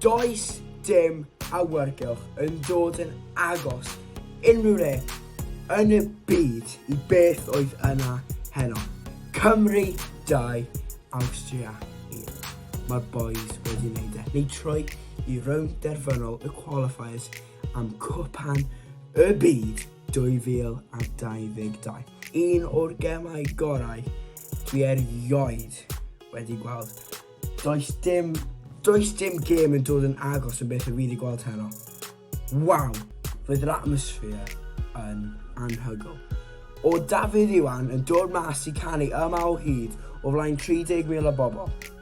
Does dim awyrgylch yn dod yn agos unrhyw le yn y byd i beth oedd yna heno. Cymru 2, Awstria 1. Mae'r boys wedi wneud e. Neu troi i rownd derfynol y qualifiers am Cwpan y Byd 2022. Un o'r gemau gorau dwi erioed wedi gweld. Does dim, does dim gêm yn dod yn agos yn beth y fi wedi gweld heno. Waw, fydd yr atmosphere yn anhygol. O Dafydd Iwan yn dod mas i canu yma o hyd o flaen 30,000 o bobl.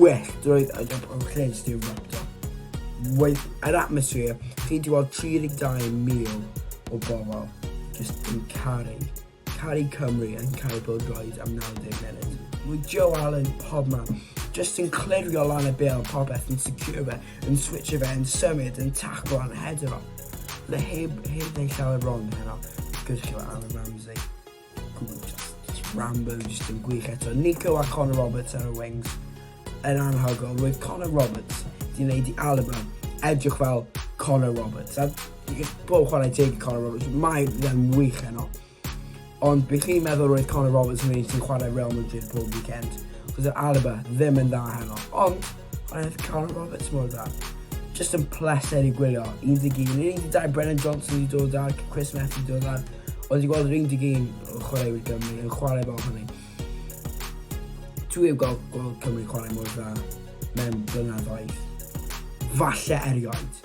Welltdroed a gap o lles yw'r factor. Waith yr atmosffer, chi di weld 32,000 o bobl jyst yn caru, caru Cymru yn caru Bill Droid am 90 munud. Mae Joe Allen pob man, jyst yn clirio lan y bêl popeth yn secure fe, yn switch fe, yn symud, yn taclo, yn hedro. Mae heb, heb neu llawer wrong heno, gyrchio Alan Ramsey. Good. Rambo just yn gwych eto. Nico a Connor Roberts ar y wings yn anhygol. Roedd Connor Roberts di wneud i Alaba edrych fel Connor Roberts. A bob chwarae teg i Connor Roberts, mae fe'n wych yno. Ond bych chi'n meddwl roedd Connor Roberts yn un sy'n chwarae Real Madrid pob weekend. Cos yr Alaba ddim yn dda heno. Ond Roedd Carl Roberts mor dda. Just yn pleser i gwylio. 11, 12, Brennan Johnson wedi dod ar, Chris Methu wedi dod ar. Oedd wedi gweld yr 11 o chwaraewyr Gymru yn chwarae fel hynny. Dwi heb gweld, gweld Cymru chwarae mor dda mewn blynyddoedd. Falle erioed.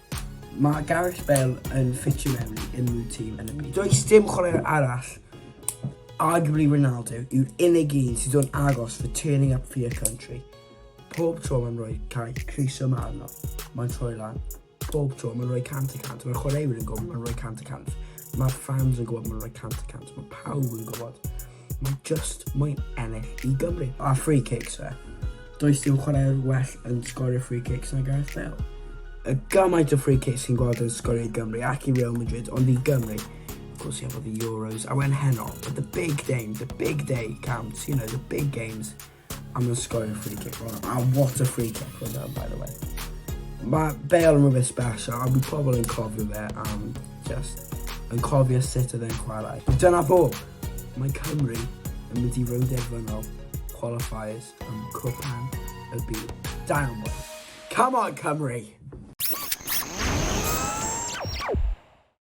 Mae Gareth Bale yn ffitio mewn i unrhyw tîm yn y byd. Does dim chwaraewr arall, arguably Ronaldo, yw'r unig un sydd o'n agos for turning up for your country. Pob tro mae'n rhoi cael croeso yma arno, mae'n troi lan. Pob tro mae'n rhoi cant y cant, mae'r chwaraewyr yn gwybod mae'n rhoi cant y cant. Mae'r fans yn gwybod mae'n rhoi cant y cant, mae pawb yn gwybod. Mae just mwy ennill i Gymru. A free kicks fe. Does dim chwarae'r well yn sgorio free kicks na Gareth Bale. Y gymaint o free kicks sy'n gweld yn sgorio i Gymru ac i Real Madrid, ond i Gymru, course he had the Euros. I went Heno, but the big game, the big day counts, you know, the big games. I'm gonna score a free kick on that. And what a free kick was that, by the way. Mae Bale yn rhywbeth special, a mae pobl yn cofio fe am just yn cofio sut oedd e'n chwarae. Dyna fo, mae Cymru yn mynd i rownd erfynol qualifiers am Cwpan y Byd. Da iawn, boys. Come on, Cymru!